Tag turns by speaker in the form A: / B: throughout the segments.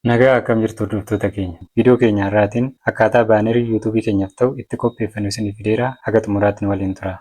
A: Nagaa akkam jirtu hordoftoota keenya. Viidiyoo keenya har'aatiin akkaataa baanerii YouTube keenyaaf ta'u itti qopheeffannu isiniif fideera. Haga xumuraatti nu waliin turaa.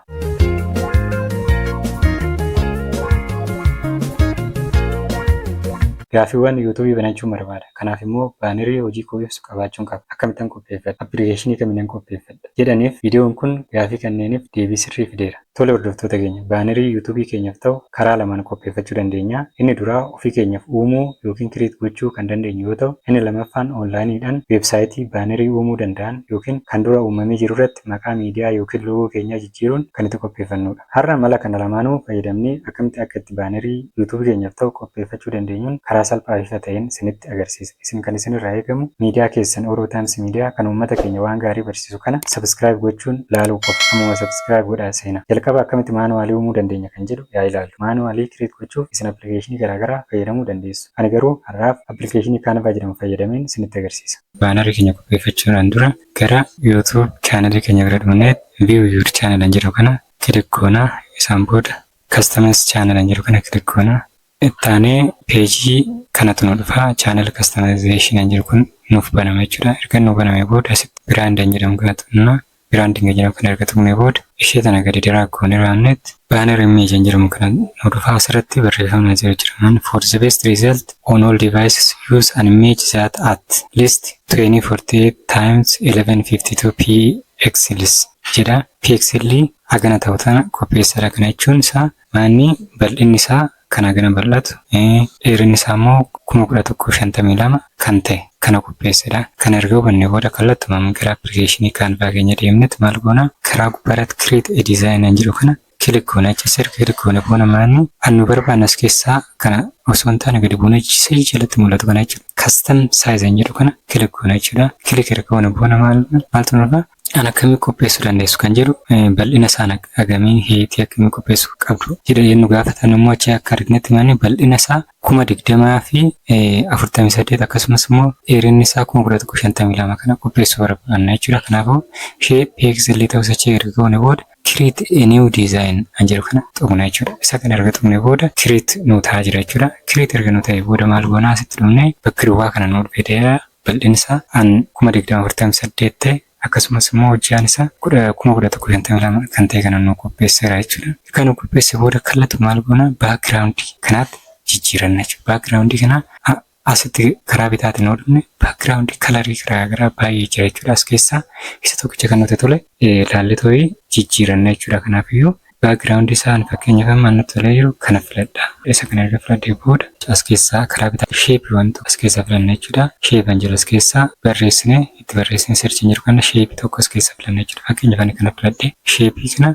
A: Gaaffiiwwan YouTube banachuun barbaada. Kanaaf immoo baanerii hojii koo ibsu qabaachuun qaba. Akkamittan qopheeffadha? Appilikeeshinii kaminan qopheeffadha? jedhaniif viidiyoon kun gaaffii kanneeniif deebii sirrii fideera. Tole hordoftoota keenya, baanerii YouTube keenyaf ta'u karaa lamaan qopheeffachuu dandeenya. Inni duraa ofii keenyaf uumuu ykn create gochuu kan dandeenyu yoo ta'u, inni lamaffaan online dhan website baanerii uumuu danda'an ykn kan dura uummamee jiru irratti maqaa miidiyaa ykn logo keenyaa jijjiiruun kan itti qopheeffannuudha. Har'a mala kana lamaanuu fayyadamnee akkamitti akka itti baanerii YouTube keenyaf ta'u qopheeffachuu dandeenyun karaa salphaa fi ifa ta'een sinitti agarsiisa. Isin kan isin irraa eegamu miidiyaa keessan Oro Times Media kan uummata keenya waan gaarii barsiisu kana subscribe gochuun laaluu qofa. Ammuma subscribe godhaa seenaa. Jalqaba akkamitti manually uumuu dandeenya kan jedhu yaa ilaallu. Manually create gochuuf isin application garaa garaa fayyadamuu dandeessu. Ani garuu har'aaf application Canva jedhamu fayyadameen isinitti agarsiisa. Banner keenya qopheeffachuudhaan dura gara YouTube channel keenya bira dhufnee view your channel kan jedhu kana click goona. Isaan booda Customize channel kan jedhu kana click goona. Itti aanee peejii kanatu nu dhufa. Channel customization kan jedhu kun nuuf banama jechuudha. Erga nu banamee booda asitti brand kan jedhamu kana tuqna. Branding kan jedhamu kana erga tuqnee booda ishee tana gadi drag goonee raamnetti banner image kan jedhamu kana nu dhufa. Asirratti barreeffamni asii hojii jiraman for the best result on all devices use an image that at least 2048 times 1152 pixels jedha. Pixelli hagana ta'u tana qopheessadha kana jechuun isaa manni bal'inni isaa kan hagana bal'atu dheerinni isaa immoo 11052 kan ta'e kana qopheessadha kana erga hubanne booda kallattuma gara appilikeeshinii kaanvaa keenya deemnetti maal goona karaa gubbaarratti create a design an jedhu kana kilik goona jecha sirka kilik goona booda maanni an nu barbaanne as keessaa kana osoo hin taane gadi buunee sii jalatti mul'atu kana jechuudha custom size an jedhu kana kilik goona jechuudha kilik erga goona booda maal maaltu nurra Kan akkamii qopheessuu dandeessu kan jedhu bal'ina isaan agamii heetii akkamii qopheessuu qabdu jedha yennu gaafatan immoo achi akka arginetti manni bal'ina isaa kuma digdamaa fi afurtamii saddeet akkasumas immoo dheerinni isaa kuma kudha tokko shantamii lama kana qopheessuu barbaanna jechuudha. Kanaafuu ishee peeksilii ta'us achi erga goone booda create a new design an jedhu kana tuqna jechuudha. Isa kana erga tuqne booda create nu ta'a jira jechuudha. Create erga nu ta'e booda maal goona asitti dhumne bakki duwwaa kana nu dhufeedha. bal'insa an 20,048 ta'e akkasumas immoo hojjaan isa 10,1152 kan ta'e kana nuu qopheesseera jechuudha. Erga nuu qopheesse booda kallatu maal goona background kanaatti jijjiiranna jechuudha. Background kana asitti karaa bitaatiin yoo dhufne background kalarii garaa garaa baay'ee jira jechuudha. As keessaa isa tokkicha kan nuti tole ilaallee too'ee jijjiiranna jechuudha. Kanaafiyyuu Background isaa ani fakkeenyaaf amma ani natti tolee jiru kana filadha. Isa kana erga filadhee booda as keessaa karaa bitaa shape waan tokko as keessaa filanna jechuudha. Shape an jedhu as keessaa barreessine itti barreessine search hin jiru kana shape tokko as keessaa filanna jechuudha. Fakkeenyaaf ani kana filadhee shape kana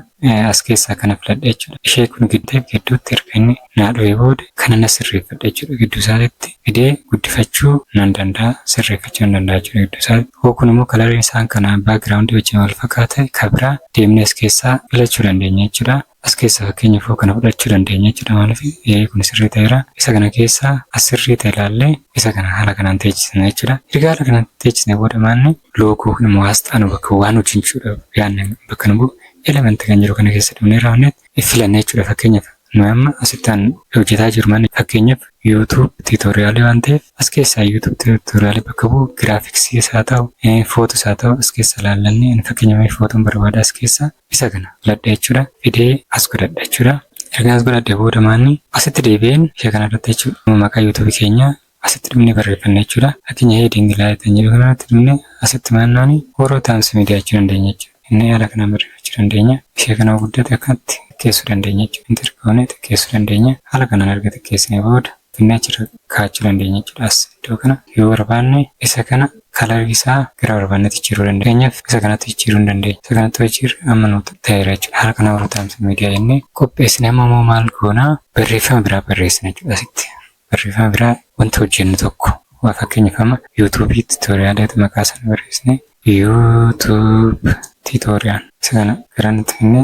A: as keessaa kana filadha jechuudha. Ishee kun giddeef gidduutti erga inni naa dhowe booda kana na sirreeffadha jechuudha gidduu isaatitti fidee guddifachuu nan danda'a sirreeffachuu nan danda'a jechuudha gidduu isaatti hoo kun immoo kalariin isaan kana background wajjin wal fakkaata ka biraa deemnee as keessaa filachuu dandeenya jechuudha as keessa fakkeenyaaf hoo kana fudhachuu dandeenya jechuudha maaliif ee kun sirrii ta'eera isa kana keessa as sirrii ta'e ilaallee isa kana haala kanaan teechisna jechuudha erga haala kanaan teechisne booda maanni loogoo kun immoo asxaa nu bakka waan hojjechuudhaaf yaadne bakka nu bu'u element kan jiru kana keessa dhumnee raawwanneet filannee jechuudha fakkeenyaaf Nuyi amma asitti an hojjetaa jiru manni fakkeenyaaf YouTube tutorial waan ta'eef as keessaa YouTube tutorial bakka bu'u graphics isaa ta'u footu isaa ta'u as keessa laallanne ani fakkeenya mee footuun barbaada as keessa isa kana filadha jechuudha fidee as godhadha jechuudha erga as godhadhe booda maanni asitti deebi'een ishee kana irratti jechuudha maqaa YouTube keenya asitti dhumne barreeffanna jechuudha. Fakkeenya heading laayit kan jedhu kanarratti dhumne asitti maannaani warroota aansu media jechuu dandeenya jechuudha. Inni haala kanaan barreeffachuu dandeenya. Ishee kana guddate akkanatti xiqqeessuu dandeenya jechuudha. Enter goone xiqqeessuu dandeenya. Haala kanaan erga xiqqeessine booda finnee achirra kaa'achuu dandeenya jechuudha. As iddoo kana yoo barbaanne isa kana kalarii isaa gara barbaannetti jijjiiruu dandeenya. Fakkeenyaaf isa kanatti jijjiiruu hin dandeenya. Isa kanatti yoo jijjiirre amma nu ta'eera jechuudha. Haala kanaan warroota aansu media jennee qopheessine amma immoo maal goona barreeffama biraa barreessina jechuudha asitti. Barreeffama biraa wanta hojjennu tokko waa fakkeenyaaf amma YouTube tutorial ti maqaa sana barreessine YouTube tutorial isa kana gara nutti finne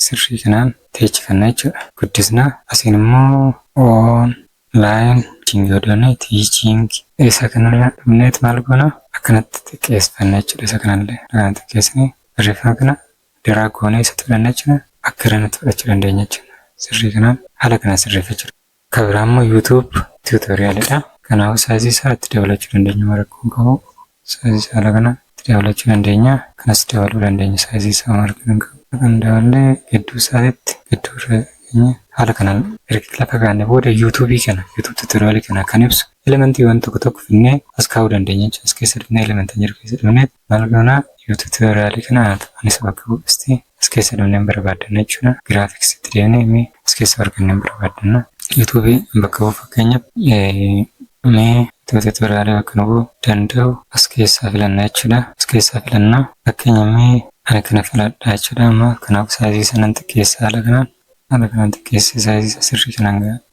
A: sirrii kanaan teechifanna jechuudha. Guddisna asiin immoo online teaching yoo doonne teaching isa kanarra dhumneet maal goona akkanatti xiqqeesfanna jechuudha isa kanallee kanaan xiqqeessine barreeffama kana daraa goonee isa fudhanna jechuudha akka irra nutti fudhachuu dandeenya jechuudha sirrii kanaan haala kana sirreeffachuu Ka biraa immoo YouTube tutorial dha. Kanaafuu size isaa itti dabalachuu dandeenya amma rakkoo hin qabu. Size isaa haala kana itti dabalachuu dandeenya. Kanas dabaluu dandeenya size isaa amma rakkoo hin qabu. Kan daballee gidduu isaatitti gidduu irra keenya haala kanaan erga lafa kaa'anne booda YouTube kana YouTube tutorial kana kan ibsu elementiiwwan tokko tokko finnee as kaa'uu dandeenya jechuudha. As keessa dhufnee element kan jiru keessa dhufneet Maal goona yoo tutorial kana anis bakka bu'usti as keessa dhumne hin barbaaddanna jechuudha. Graphics itti deemne mee as keessa arganne hin barbaaddanna. YouTube bakka bu'u fakkeenyaaf mee YouTube tutorial bakka nu bu'u danda'u as keessaa filanna jechuudha. As keessaa filanna fakkeenya mee ani kana filadha jechuudha. Amma kanaaf saayizii sanan xiqqeessa haala kanaan haala kanaan xiqqeessee saayizii isaa sirrii kanaan ga'a.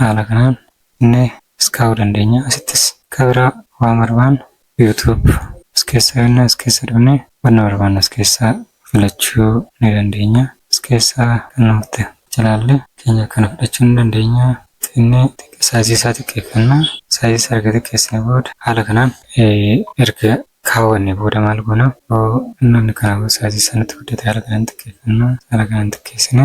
A: Haala kanaan inni as kaa'uu dandeenya. Asittis ka biraa waan barbaannu youtube as keessaa yennaa as keessa dhufne wanna barbaannu as keessaa filachuu ni dandeenya. As keessaa kan nutti jalaalle keenya kana fudhachuu ni dandeenya. Inni size isaa xiqqeeffanna. Size isaa erga xiqqeessine booda haala kanaan erga kaawwanne booda maal goona? Yoo namni kanaa booda size isaa nutti guddate haala kanaan xiqqeeffanna. Haala kanaan xiqqeessine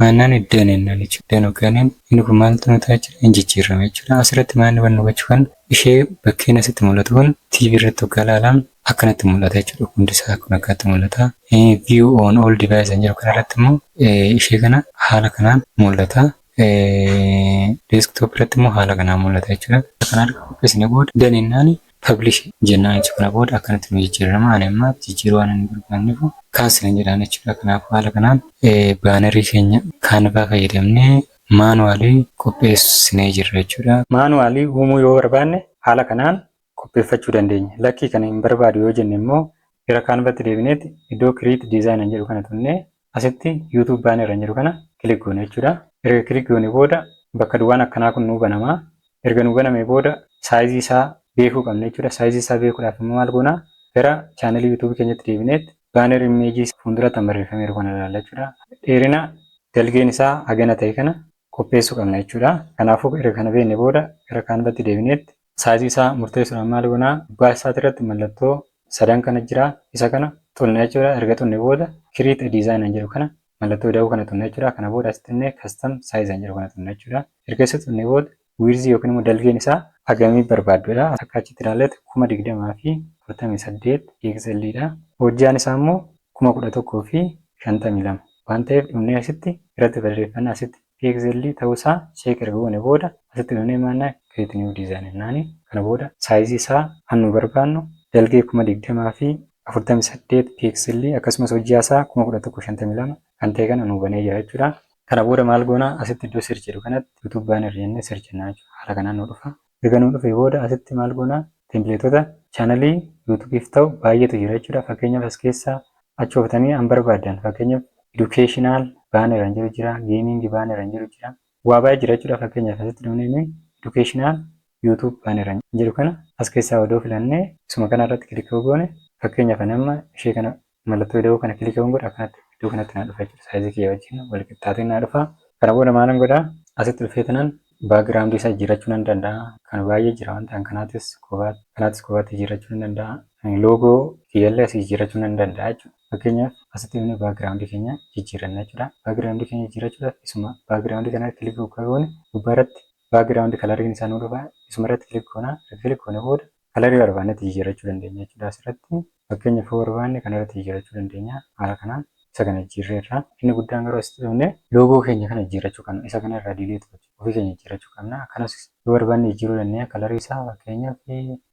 A: Maannaan iddoo inni hin oolle jechuudha. Yookaan inni kun maaltu nu ta'a jechuudha? Hin jijjiirrama jechuudha. Asirratti maanni wanni hubachuu qabnu ishee bakkeen asitti mul'atu kun TV irratti hoggaa ilaalan akkanatti mul'ata jechuudha. Hundi isaa kun akkanatti mul'ata. View on all device kan jedhu kanarratti immoo ishee kana haala kanaan mul'ata. Desktop irratti immoo haala kanaan mul'ata jechuudha. Kana erga qopheessinee booda done jennaan Publish jennaan jechuudha. Kana booda akkanatti nu jijjiirama. Ani amma jijjiiruu waan hin barbaanneef cancel hin jedhaan jechuudha. Kanaafuu haala kanaan baanarii keenya Canva fayyadamnee manually qopheessinee jirra jechuudha. Manually uumuu yoo barbaanne haala kanaan qopheeffachuu dandeenya. Lakkii kana hin barbaadu yoo jenne immoo gara Canvatti deebineeti iddoo create design jedhu kana tunnee Asitti YouTube banner kan jedhu kana click goona jechuudha. Erga click goone booda bakka duwwaan akkanaa kun nuu banama. Erga nuu banamee booda size isaa beekuu qabna jechuudha. Size isaa beekuudhaaf immoo maal goona? Gara channel YouTube keenyatti deebineet banner image fuuldura tan barreeffameeru kana ilaalla jechuudha. Dheerina dalgeen isaa hagana ta'e kana qopheessuu qabna jechuudha. Kanaafuu erga kana beekne booda gara Canvatti deebineet Saayizii isaa murteessuudhaan maal goona? Gubbaa isaati irratti mallattoo sadan kana jira. Isa kana xunna jechuudha. Erga xunne booda create a design an jedhu kana mallattoo ida'uu kana xunna jechuudha. Kana booda asitti innee custom size an jedhu kana xunna jechuudha. Erga isa xunne booda width yookiin immoo dalgeen isaa hagamii barbaadduudha. Akka achitti ilaalletti 20,048 pixel dha. Hojjaan isaa immoo 11,052 waan ta'eef dhumnee asitti irratti barreeffanna asitti pixel ta'uu isaa check erga goone booda asitti dhufnee maannaa create new design jennaani kana booda size isaa kan nu barbaannu dalgee 20048 pixel akkasumas hojjaa isaa 11152 kan ta'e kana nu banee jira jechuudha. Kana booda maal goona asitti iddoo search jedhu kanatti youtube banner jennee search jennaa jechuudha haala kanaan nu dhufa. Erga nuu dhufee booda asitti maal goonaa templateota channel youtube'f ta'u baay'eetu jira jechuudha. Fakkeenyaaf as keessaa achi ooftanii an barbaaddan fakkeenyaaf educational banner an jedhu jira, gaming banner an jedhu jira. Waa baay'ee jira jechuudha. Fakkeenyaaf asitti dhufnee nuyi educational youtube banner an jedhu kana as keessaa odoo filannee isuma kana irratti click yoo goone fakkeenyaaf ani amma ishee kana Mallattoo ida'uu kana kiliki yoon godhe akkanatti iddoo kanatti naa dhufa jechuudha. Saayizii kiyya wajjin wal qixxaatee naa dhufa. Kana booda maalan godha? Asitti dhufee tanan background isaa jijjiirrachuu nan danda'a. Kan baay'ee jira waan ta'an kanaatis kophaatti kanaatis kophaatti jijjiirrachuu nan danda'a. Loogoo kiyyallee asii jijjiirrachuu nan danda'a jechuudha. Fakkeenyaaf asitti dhufnee background keenya jijjiirranna jechuudha. Background keenya jijjiirrachuudhaaf isuma background kana kiliki gubbaarratti background color isaa nuu dhufa. Isumarratti kiliki goona. Erga kiliki goone booda kalarii barbaannetti jijjiirrachuu dandeenya jechuudha asirratti. Fakkeenyaaf yoo barbaanne kanarratti jijjiirrachuu dandeenya haala kanaan isa kana jijjiirreerra. Inni guddaan garuu asitti dhufne loogoo keenya kana jijjiirrachuu qabna. Isa kana irraa diileetu ofii keenya jijjiirrachuu qabna. Akkanas yoo barbaanne jijjiiruu dandeenya. Kalarii isaa fakkeenyaaf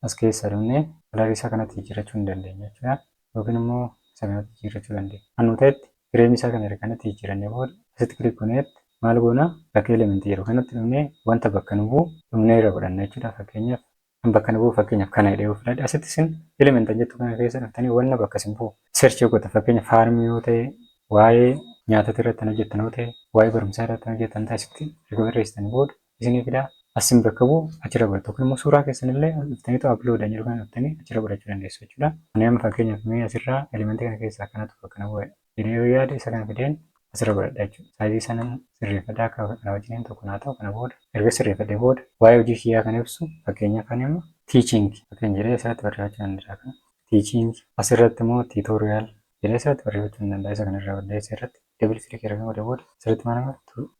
A: as keessaa dhufne kalarii isaa kanatti jijjiirrachuu ni dandeenya jechuudha. Yookiin immoo isa kanatti jijjiirrachuu dandeenya. Kan nu ta'etti fireemii isaa kana erga kanatti jijjiirrannee booda asitti kilik goneetti maal goona bakka elementii jedhu kanatti dhufnee wanta bakka nu bu'u dhumnee irra godhanna jechuudha. Fakkeenyaaf An bakka na bu'u fakkeenyaaf kana jedhee yoo fudhadhe asitti isin elementan jettu kana keessa dhuftanii wanna bakka isin bu'u search yoo gootan fakkeenya faarmii yoo ta'e waa'ee nyaatota irratti kan hojjettan yoo ta'e waa'ee barumsaa irratti kan hojjettan ta'e asitti erga barreessitanii booda isinii fidaa asin bakka bu'u achirra godhatu yookiin immoo suuraa keessan illee dhuftaniitu upload an jedhu kana dhuftanii achirra godhachuu dandeessu jechuudha. Ani amma fakkeenyaaf mee asirraa elementii kana keessaa kanatu bakka na bu'a jedha. jedhee yoo yaade isa kana fideen asirra godhadha jechuudha. Saayizii isaa nan sirreeffadha akka kana wajjiniin tokko naa ta'u kana booda erga sirreeffadhe booda waa'ee hojii kiyyaa kan ibsu fakkeenyaaf kan immoo teaching fakkeenya jedhee asirratti barreeffachuu nan danda'a kana teaching asirratti immoo tutorial jedhee asirratti barreeffachuu nan danda'a isa kana irraa balleessa irratti double click erga godhe booda asirratti maal amma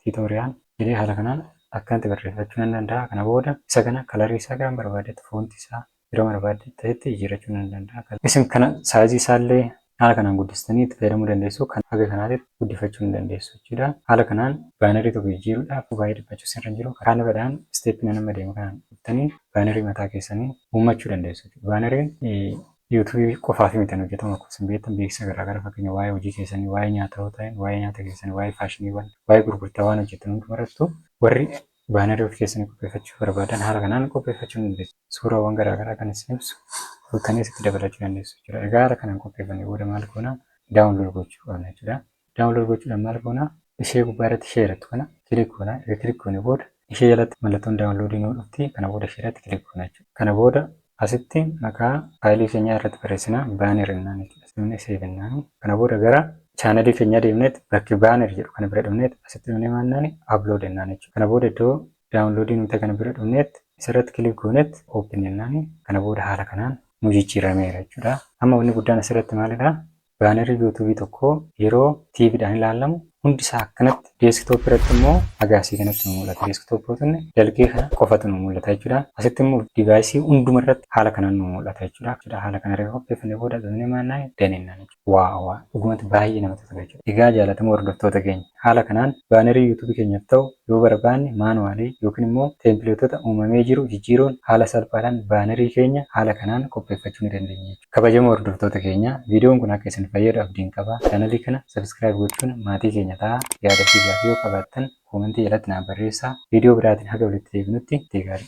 A: tutorial jedhee haala kanaan akkanatti barreeffachuu nan danda'a kana booda isa kana kalarii isaa kan barbaadetti foonti isaa yeroo barbaadde ta'etti jijjiirrachuun ni danda'a. Isin kana saayizii isaallee haala kanaan guddistanii itti fayyadamuu dandeessu. Kan haga kanaatitti guddifachuu ni dandeessu jechuudha. Haala kanaan baanarii tokko jijjiiruudhaaf baay'ee dhiphachuu isinirra hin jiru. Karaa laphadhaan isteeppii nan amma deemu kanaan dhuftanii baanarii mataa keessanii uummachuu dandeessu jechuudha. Baanariin yuutuubii qofaaf miti kan hojjetamu akkuma isin beektan beeksisa garaa garaa fakkeenya waa'ee hojii keessanii, waa'ee nyaata yoo ta'e, waa'ee nyaata keessanii, waa'ee faashiniiwwan, waa'ee gurgurtaa waan hojjettan hundumarrattu warri Baanarii ofii keessanii qopheeffachuu yoo barbaadan haala kanaan qopheeffachuu ni dandeessu. Suuraawwan garaa garaa kan isin ibsu fuutanii asitti dabalachuu dandeessu jechuudha. Egaa haala kanaan qopheeffannee booda maal goona? Download gochuu qabna jechuudha. Download gochuudhaan maal goona? Ishee gubbaa irratti ishee jedhattu kana kilik goona. Erga kilik goone booda ishee jalatti mallattoon download nuu dhufti. Kana booda ishee irratti kilik goona jechuudha. Kana booda Asitti maqaa faayilii keenyaa irratti barreessina. Banner jennaan itti dhasifne save jennaan. Kana booda gara chaanalii keenyaa deemneet bakki banner jedhu kana bira dhufneet asitti dhufnee maal jennaan upload jennaan jechuudha. Kana booda iddoo download nu ta'e kana bira dhufneet isarratti click gooneet open jennaan. Kana booda haala kanaan nu jijjiirameera jechuudha. Amma wanni guddaan asirratti maalidha? Baanarri youtube tokkoo yeroo tv dhaan ilaalamu hundi isaa akkanatti desktop irratti immoo agaasii kanatti nu mul'ata. Desktop yoo tunne dalgee kana qofatu nu mul'ata jechuudha. Asitti immoo device hunduma irratti haala kanaan nu mul'ata jechuudha. Jechuudha haala kana erga qopheeffannee booda bifnee maal naan done naan jechuudha. Waa waa dhugumatti baay'ee namatti tola jechuudha. Egaa jaalatamoo hordoftoota keenya haala kanaan baanarii youtube keenyaaf ta'u yoo barbaanne manually yookiin immoo templateota uumamee jiru jijjiiruun haala salphaadhaan baanarii keenya haala kanaan qopheeffachuu ni dandeenya jechuudha. Kabajamoo hordoftoota keenya viidiyoon kun akka isin fayyadu abdiin qaba. Chaanalii kana sabiskiraayib gochuun maatii keenya ta'a. Yaada fi gaaffii yoo qabaattan koomentii jalatti naaf barreessaa. Viidiyoo biraatiin haga walitti deebinutti ittii gaarii.